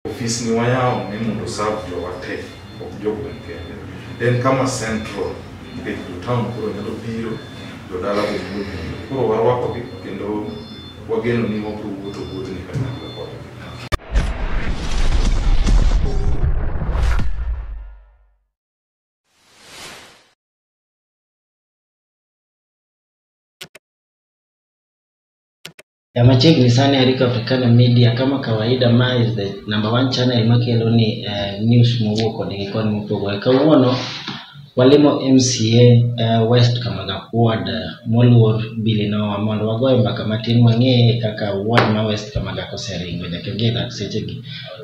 ofis ni wayawo ni mondo serve jowa te ok jogweng' kende en kama central nikech jotown koro nyalo biro jodala be nyalo biro koro warwakogi kendo wageno ni wabiro wuotho wuodhni kanyakla Ya machiegni sana Eric Africana Media kama kawaida ma is the number one channel makelo ni eh, news mowuok koni gi koni mopogore. Kawuono walimo MCA eh, West Kamagap Ward eh, moluor Billy Nowa mondo wagoye mbaka matin wang'e kaka ward ma West Kamagap oseringo nyaka gi e dak sechegi.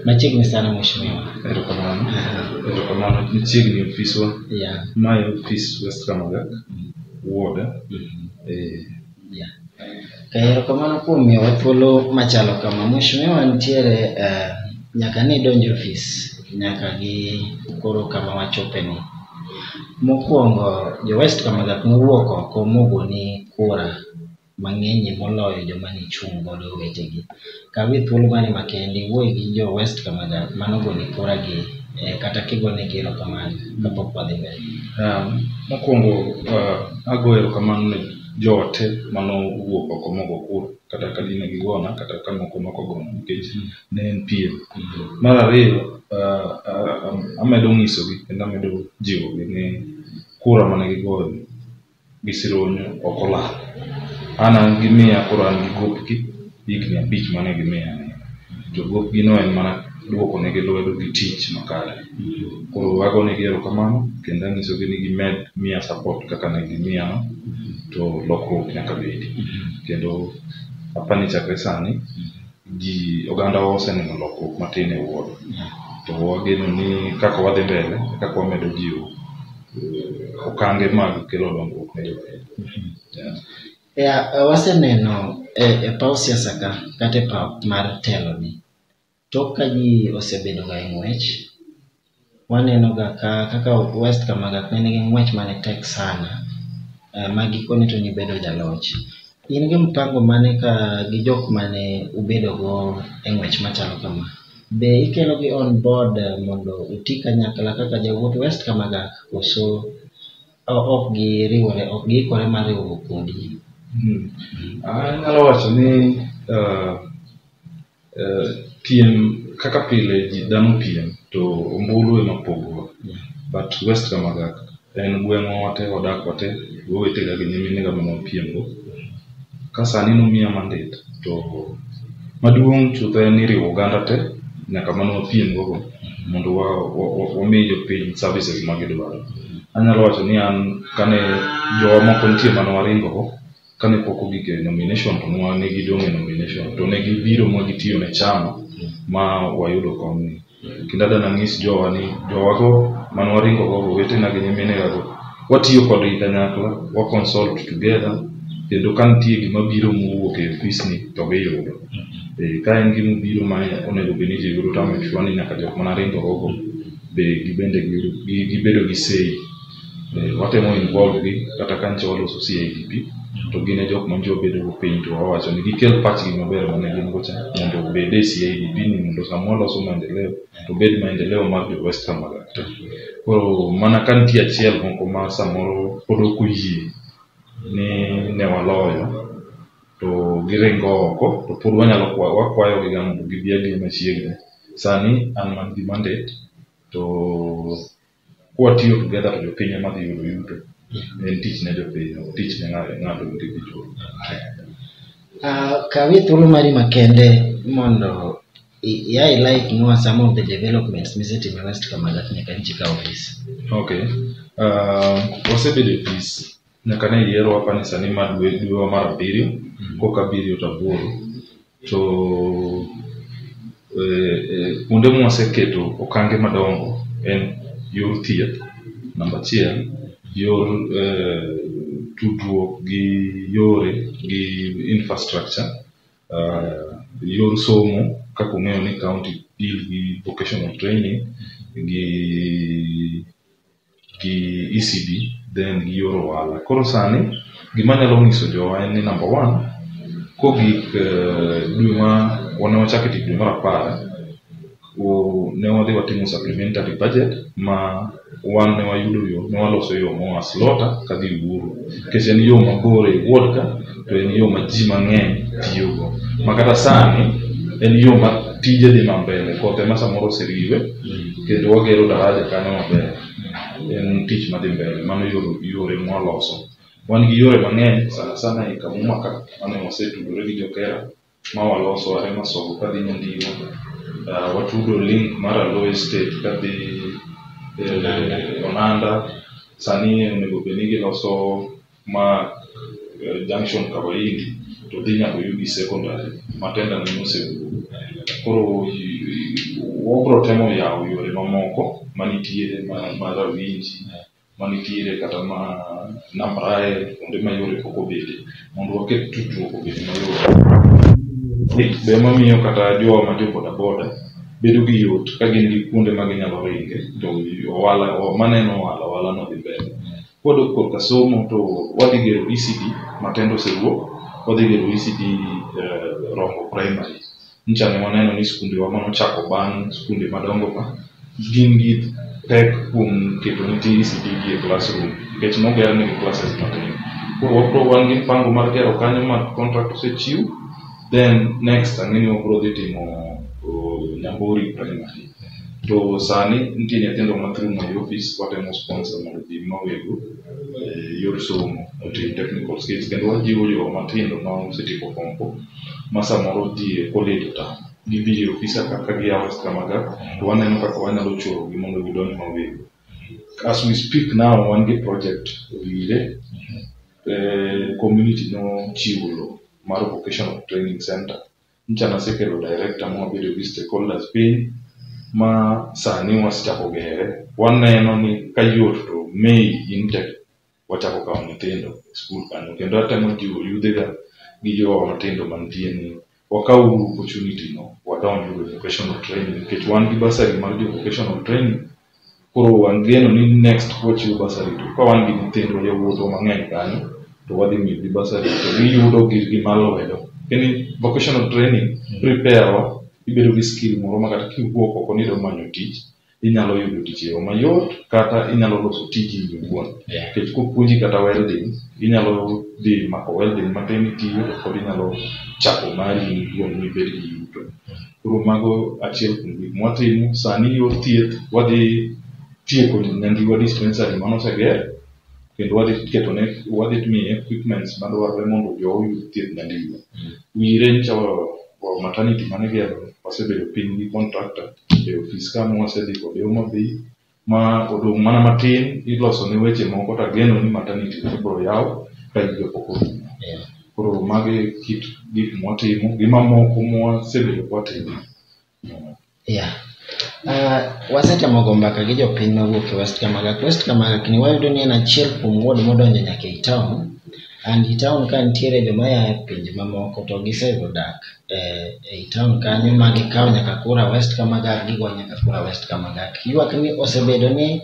Machiegni sana mheshimiwa. Erokamano. Erokamano. Machiegni ofiswa. Yeah. Mae ofis West Kamagak, Wuoda. Mhm. Eh, Yeah. Eh, Erokamano kuom miyowa thuolo machalo kama. Mheshimiwa nitiere eh, nyaka ni donj e ofis nyaka gi koro kama wachope ni. Mokwongo jo West Kamagak nowuok oko mogoni kura mang'eny moloyo joma nichung' godo wetegi. Kawie thuolo mani makende iwuoye gi jo West Kamada mano goni kura gi eh, kata kigone gi erokamano kapok wadhi mbele. Um, mokwongo uh, ago erokamano ne joote mano owuok oko mogo kura kata ka dine gigona kata ka moko nokogona nikech ne en piem. Mar ariyo uh, uh, amedo ng'isogi kendo amedo jiwogi ni kura mane gigoyo gi sironyo ok olal. An an gi miya koro an gi gopgi higni abich mane gimiya ni. Jogopgino en mana duokonegi lwedo gi tich makare. Koro agonegi erokamano kendo anyisogi ni gimed miya support kaka ne gimiyano to lokruok nyaka bedi. Kendo apani chakre sani ji oganda oseneno lokruok matin e wuoth to wageno ni kaka wadhi mbele kaka wamedo jiwo eh, okange mag kelo dongruok ne jopiny yeah. yeah, waseneno e, e paw siasa ka kata e paw mar teloni tok ka ji osebedo ga e ng'wech Waneno ga ka kaka West Kamagak ne nigi ng'wech mane tek sana eh, ma gikone to nibedo jaloch. In gi mpango mane ka gi jok mane ubedogo e ng'wech machalo kama? Be ikelogi on board eh, mondo uti kanyakla kaka jawuot West Kamagak koso o- ok giriwore ok giikore mar riwruok kodi? Anyalo wacho ni eh, Eh, piem kaka pile ji dhano piem to ombulu ema pogowa but west kamagak en gweng'wa wate wadak wate wawetega gi nyiminega mana wapiemgo ka sani nomiya mandet to maduong' chutho en ni riwo oganda te nyaka mana wapiemgogo mondo wa- wa- wa- wami jopiny services ma gidwaro anyalo wacho ni an kane jowa moko nitie mana waringogo kane pok ogik e nomination to nwa ne gidong' e nomination to ne gibiro ma gitiyo ne chama ma wayudo komni kendo adana nyis jowa ni jowago man waringo go owetena gi nyiminegago watiyo kodgi kanyakla wa consult together kendo ka nitie gima biro mowuok e ofisni to giyudo Eh, ka en gima obiro ma onego bed ni ji yudo to ame sure ni nyaka jok mana ringo gogo be gibende giyudo- gi- gibedo gi sei Eh, watemo involve gi kata ka nyicha waloso CIDP to gin e jok ma nyicha wabedo go piny to wawacho ni gikel pachgi maber mane gin go cha mondo obed e CIDP ni mondo sama waloso maendeleo to obed maendeleo mar jo West Kamarach te. Koro mana ka nitie achiel moko ma samoro pod ok oyie ni ne waloyo to giringo oko to pod wanyalo kwa- wakwayogi ga mondo gibi abiya machiegni. Sani an man gi mandate to Kwatiyo together to jopiny ema dhi yudo yuto. En tich ne jopiny, ok tich ne ng'ato ng'ato individual. Uh, kawi thuolo mari makende mondo i- ia ilike nua some of the developments misetimo e west kamagat nyaka nchi ka ofis Okay. Uh, wasebedo e ofis nyaka ne yiero wapani sani ma dwe dwewa mar abiriyo koka abiriyo to aboro to e, e, kuonde mwaseketo okange madongo en yor thieth namba achiel yor e, tudruok gi yore gi infrastructure uh, yor somo kaka ung'eyo ni county deal gi vocational training gi gi ECB then gi yor ohala. Koro sani gima anyalo nyiso jowa en ni number one kogik eh, dwe ma wane wachako e tich dwe mar apar o- ne wadhi watimo supplementary budget ma wan ne wayudo yo ne waloso yo moa Slota kadhi Uhuru nikech en yo mabor e wuod ka to en yo ma ji mang'eny tiyogo ma kata sani en yo ma tije dhi mambele kothe ma samoro oseriwe kendo wagero daraja kanyo maber en tich madhi mbele mano yore mwaloso wan gi yore mang'eny sana sana e kamuma ka mane wasetudore gi jokera ma waloso are masoko kadhi nyandino uh, watudo link mar aloe state kadhi eh, onanda sani onego bed ni giloso ma eh, junction kawaindi to dhi nyaka yugi secondary matenda ne mosewuok koro i- i- wabro temo yawo yore mamoko manitiere ma- ma rawinji manitiere kata ma nam raye kuonde ma yore pok obede mondo waket tudruok obed mayot. Be mamiyo kata jowa ma jo bodaboda bedo gi yot ka gin gi kuonde ma ginyalo ringe to ohala maneno ohala ohalano dhi mbele. Kwadok korka somo to wadhi gero ECD, Matendo osewuok, wadhi gero ECD Rombo Primary. Nyicha ne waneno ni skundewa ma nochako bang' skunde madongo ka gin gi pek kuom keto nyithi ECD gi e classroom nikech noger negi classes matin. Koro wabro wan gi mpango mar gero kanyo ma contract osechiw then next ang'e ni wabro dhi timo uh, Nyambori primary. To sani nitie nyithindo ma through my office watemo sponsor mondo ji mawego eh, yor somo otim technical skills kendo wajiwo jowa matindo ma osetieko form four ma samoro ji oledo ta gidhi ir ofisa kaka giyawo kamaga to waneno kaka wanyalo chorogi mondo gidonj mawego as we speak now wan gi project owire eh, community nochiwo lo mar vocational training center ncha nasekelo director mwabedo gi stakeholders piny ma sani wasechako gere waneno ni kayot to may intake wachako kawo nyithindo e skul kanyo kendo atemo jiwo yudhega gi jowa matindo mantie ni wakaw uru opportunity no wadonj uru e vocational training nikech wan gi basari mar jo vocational training koro wangeno ni next wachiwo basari to ka wan gi nyithindwa yawuotwa mang'eny kanyo to wadhi miyogi basari to giyudo girgi mar lwedo kendo vocational training prepare wa ibedo gi skill moro ma kata kiwuok oko ni idwa manyo tich inyalo yudo tich e yo mayot kata inyalo loso tiji in iwuon Yeah. nikech kopuonji kata welding inyalo dhi mako welding matin itiyo to pod inyalo chako mari in iwuon mibed gi yuto koro mago achiel kuom gik mwatimo sani yor thieth wadhi tieko nyangiwa dispensary mano oseger kendo wadhi ketone wadhi miye equipments madwarore mondo jo oyud thieth nyandiwa wire nyicha maternity mane gero wasebedo piny gi contractor e ofis ka mwasedhi kode omodhi ma odong' mana matin iloso ne weche moko to ageno ni maternity ibiro yaw ka higa pok orumo. Koro magi kit gik mwatimo gi mamoko mwasebedo kwatimo. Yeah. Uh, wasetemo go mbaka gi jopiny mawuok e West Kamagak. West Kamagak ni wayudo ni en achiel kuom ward modonjo nyaka e town And i town ka nitiere joma ya e pinje mamoko to gisego dak e, e i town kanyo ma gikawo nyaka Kura West kama gak gigo nyaka Kura West kama gak. Ywak ni osebedo ni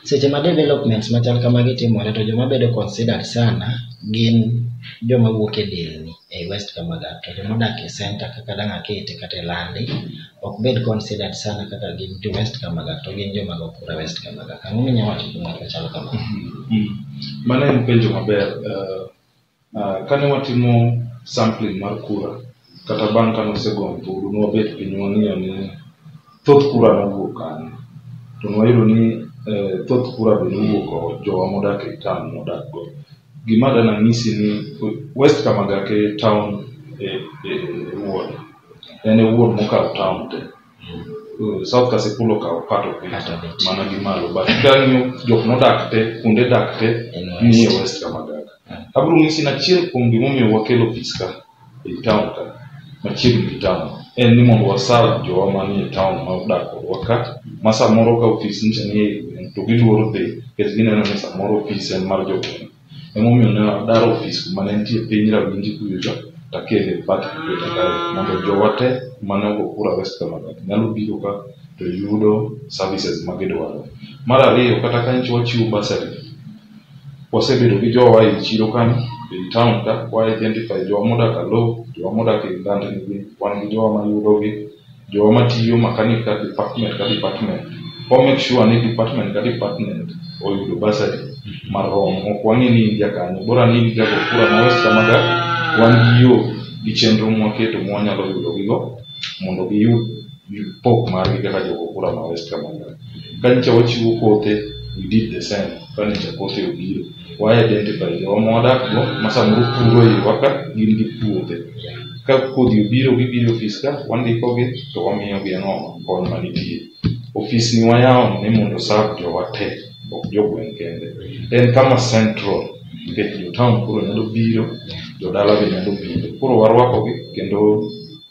seche ma developments machal kamagi timore to joma bedo considered sana gin joma wuok e delni e West kama gak to joma odak e center kaka Dang'akete kata e Landi ok bed considered sana kaka gin to west kamaga to gin joma go kura west kamaga ang'o minya wacho kuom ng'at machalo kama mm. mano en penjo maber uh, uh, kane watimo sampling mar kura kata bang' kane osegom buru nwabet piny wang'iyo ni thoth kura nowuok kanye to nwayudo ni uh, thoth kura be nowuok jowa modak e town modak go gima dana ng'isi ni west kamaga ke town e, e, e, e en e wuon mokawo town te Uh, south kasipul okawo part of it Part of it. mana gi malo but kang'iyo jok modak te kuonde dak te En west. nie west kamagaga Mm. abiro nyisi ni achiel kuom gimomiyo wakelo ofis ka ei town ka machiegni gi town en ni mondo wasaw jowa manie town ma odak kodwa ka ma samoro ka ofis nyicha nie gweng' to giluoro dhi nikech gineno ni samoro ofis en mar jogweng' Emomiyo ne adaro ofis kuma ne nitie piny Rawinji kuyocha to akele bat kuchocha kae mondo jowa te kuma ne ogo kura West Kabarak nyalo biro ka to yudo services ma gidwaro. Mar ariyo, kata ka nyicha wachiwo bursary, wasebedo gi jowa e chiro kanyo, e i town ka, wa identify jowa modak Aloo, jowa modak e i landni gi, wan gi jowa mayudogi. jowa matiyo makanik ka department ka department kwa make sure ni department ka department oyudo basari marom ok wang'e ni in jakanyo bora ni in jago kura ma west kamaga wan gi yo gi chenro mwaketo ma wanyalo yudo gigo mondo giyud pok margi kaka jogo kura ma west kamaga ka nyicha wachiwo kothe we did the same ka nyicha kothe obiro wa identify jowa ma wadakgo ma samoro puro iwa ka gin gi puothe ka kodhi obiro gibiro e ofis ka wandikogi to wamiyogi ang'o kony ma nitie ofis ni wayawo ni mondo osav jowa te ok jogweng' kende en kama central nikech jotaon koro nyalo biro jodala be nyalo biro koro warwakogi kendo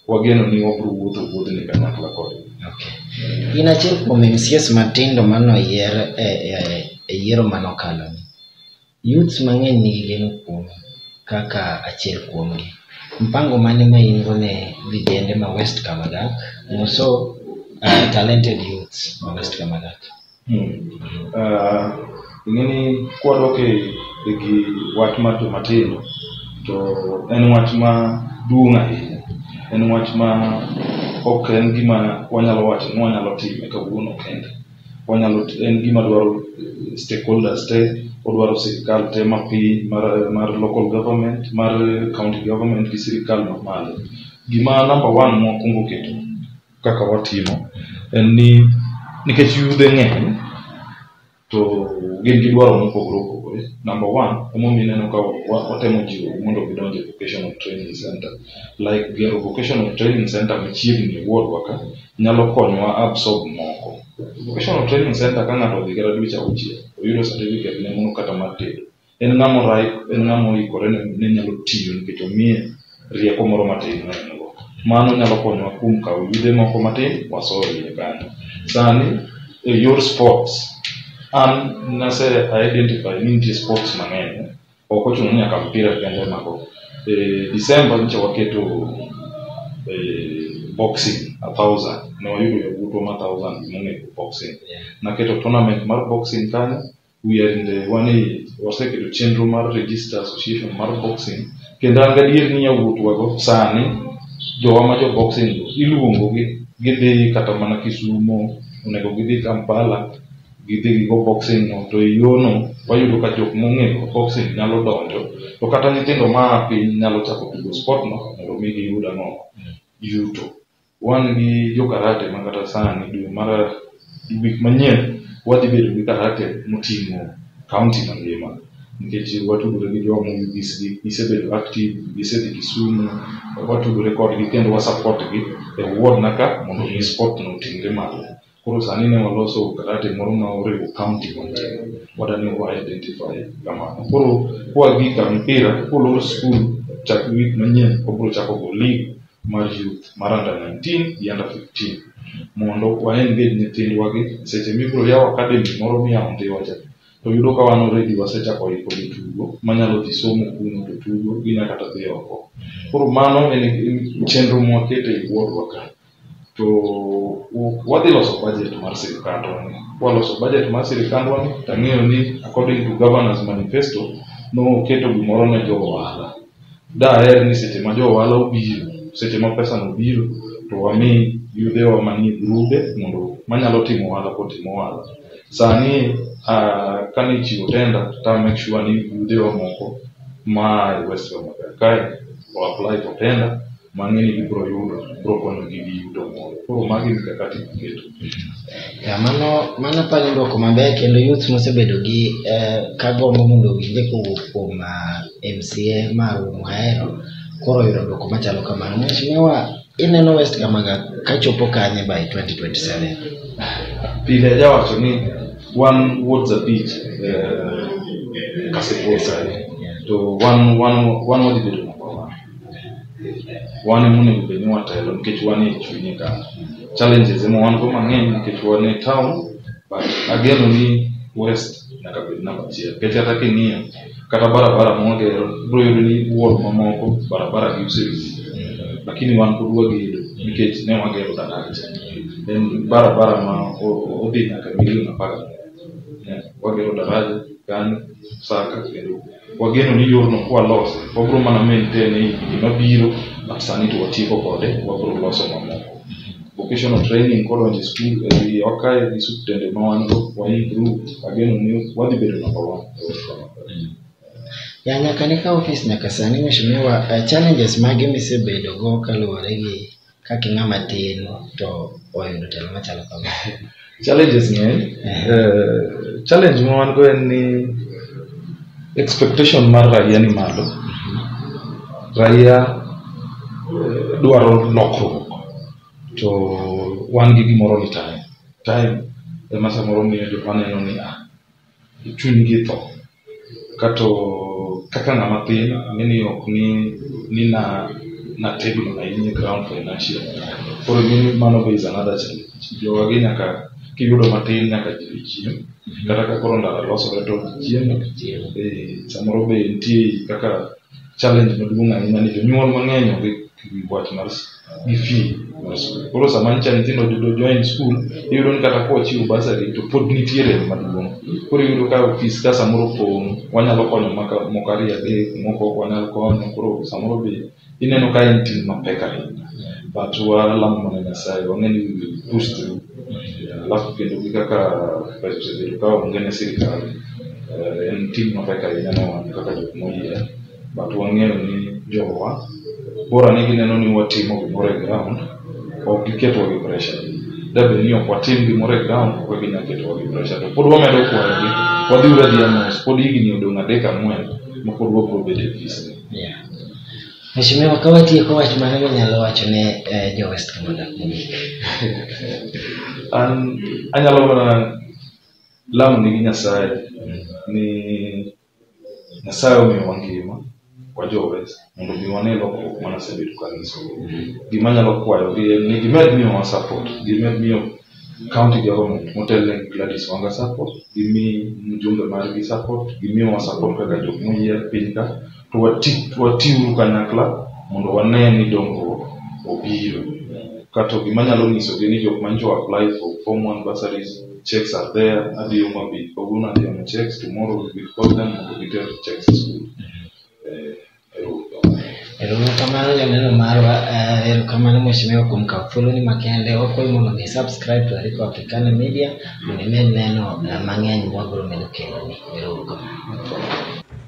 wageno ni wabiro wuotho wuodhni kanyakla kodgi. In achiel kuom MCAs matindo mano yier e, e, e yiero mano kalo ni. Youths mang'eny nigi geno kuom kaka achiel kuom gi. Mpango mane ma in go ne vijende ma West Kamadak, moso uh, talented youths ma West Kamadak? ing'eni kwadok e gi wach mar joma tindo to en wach ma duong' ahinya en wach ma ok en gima wanyalo wacho ni wanyalo time kawuono kende wanyalo en gima dwaro stakeholders te odwaro sirikal te ma piny mar, mar local government mar county government gi sirikal mamalo gima number one mwakwongo keto kaka watimo en ni nikech yudhe ng'eny to gin gi dwaro mopogore opogore. Number one, emomiyo ineno ka watemo jiwo mondo gidonj e vocational training center. Like gero vocational training center machiegni e ward wa ka nyalo konyowa absorb moko. Vocational training center ka ng'ato odhi kata dweche auchiel, oyudo certificate ne mondo kata mar tedo. En ng'ama orai, en ng'ama oikore ne ne nyalo tiyo nikech omiye rieko moro matin ma en go. Mano nyalo konyowa kuom kawo yudhe moko matin waso e iye kanyo. Sani e yor sports, an nase identify ni nitie sports mang'eny. Ok ochuno ni nyaka mpira kende ema go. E December nyicha waketo e, boxing a thousand ne wayudo yawuotwa ma thousand gimonego boxing naketo tournament mar boxing kanyo we are in the one age waseketo chenro mar register association mar boxing kendo an gadier ni yawuotwago sani jowa ma jo boxing go iluongogi gidhi kata mana kisumo onego gidhi kampala gidhi gigo boxing no to e yono wayudo ka jok mong'eyo boxing nyalo donjo to kata nyithindo ma piny nyalo chako tugo sport no mondo mi giyud ang'o yuto wan gi jo karate ma kata sani dwe mar wik manyien wadhi bedo gi karate moting'o kaunti mangima nikech watudore gi jo mowigis gi gisebedo active gisedhi Kisumu watudore kodgi kendo wa support gi e wuodna ka mondo mi sport no oting're malo. Koro sani ne waloso karate moro ma oriwo county mangima wadani wa identify kamano. Koro kwa gi ka mpira kolor school chak week manyien obro chako go league mar youth mar under 19 gi under 15 mondo wa engage nyithindwa gi seche mibro yaw academy moro miyawo Ndhiwa cha to yudo ka wan already wasechako iko jotugo manyalo dhi somo kuno to tugo ginya kata dhi oko. Koro mano en chenro mwakete e wuodhwa ka. to wadhi loso budget mar sirikandwa ni kwaloso budget mar sirikandwa ni tang'eyo ni according to governance manifesto noketo gimoro ne jo ohala daher ni seche ma jo ohala obiro seche ma pesa no biro to wami yudhe wa manie grube mondo manyalo timo ohala kotimo ohala sani uh, kane ichiwo tenda ta make sure ni yudhe wa moko ma e west kae o apply for tenda mang'e ni gibiro yudo biro konyogi gi yuto moro koro magi mikakati miketo Ya, mano mano apani dwoko maber kendo youth mosebedo gi eh, ka gombo mondo owinje kowuok kuom ah, MCA marwa mahero koro yudo dwoko machalo kamano mheshimiwa ineno West Kamaga kachopo kanye by 2027 pile ajawacho ni wan wuod zabich eh, kasepol sani to wan wan wan wadhi bedo wan ema onego bed ni watelo nikech wan e chunye ka challenges ema wan go mang'eny nikech wan e town but ageno ni west nyaka bed namba achiel nikech kata king'iyo kata barabara mwagero bro yudo ni wuon mamoko barabara gi usewinjo lakini wan pod wagedo nikech ne wagero daraja en barabara ma odhi nyaka milion apar wagero daraja gani saka kendo Wageno ni yorno kwalose, wabiro mana maintain e higni mabiro, but sani to watieko kode, wabiro loso mamoko. Vocational training kodonjo e skul e wiye wakayo gi suptende ma wan go, wa improve, ageno ni wadhi bedo number one. e West Kenya. Ya nyaka ne ka ofis nyaka sani mheshimiwa, eh, challenges mage misebedo go kaluwore gi kaka ing'ama tin to oyudo telo machalo kama challenges ng'eny uh, challenge ma wan go en ni expectation mar raia ni malo raia eh, dwaro lokruok to wan gi gimoro ni time time ema samoro miyo jok maneno ni ah chunygi tho kato kaka ng'ama tin mini ok ni ni na na tegno ahinya e ground financial koro mini mano be is another challenge jowagi nyaka kiyudo matin nyaka ji dhi chiem kata ka koro ndara losore to ji chiemo Eh, samoro be nitie kaka challenge maduong' ahinya ni jonyuol mang'eny onge gi wach mar s- gi fee mar skul. Koro sama nyicha nyithindo yudo join skul, iyudo ni kata kochiw basari to pod nitie rem maduong'. Koro iyudo ka ofis ka samoro pong', wanyalo konyo maka moko ariyo adek, moko ok wanyal konyo, koro samoro be ineno ka en ting' mapek ahinya. But walamo mana Nyasaye, wang'e ni we will push through. alafu kidogo kaka vice president kwa wengine serikali eh, en tim mapek ahinya ne wan kaka jok moyier but wang'eyo ni jowa bora ni gineno ni watimo gimoro e ground ok giketwa gi pressure dabed ni ok watim gimoro e ground ok ginyal ketowa gi pressure to pod wamedo kwayogi wadhiuru adhiya mos pod higni odong' adek ang'wen ma pod wabiro bedo e ofisni Yeah. Mheshimiwa, ka watieko wach mane minyalo wacho ne eh, jo West Kamanda kuom An anyalo mana lamo ni gi Nyasaye ni Nyasaye omiyo wangima wajowes mondo mi wane lokruok mane asebedo kanyiso. Gima anyalo kwayogi en ni gimed miyowa support, gimed miyo county government motelne gi Gladys Wanga Sacco, gimi mjumbe margi support, gimiwa support kaka jok moyier piny ka, to wati watiuru kanyakla mondo wane ni dongruok obiro. Kato gima nyalo nyisogi ni jok manjo apply for form one bursaries, checks are there, adhi omo abi kawuono adhi omo checks, tomorrow we will call them mondo giter checks e school. Eh, Erokamano joneno marwa, eh, erokamano mheshimiwa kuom kawo thuoloni makende. Wakwayi mondo mi subscribe to Arika Africana Media mondo imed neno eh, mang'eny mwabiro medo keloni. Erouru kamano.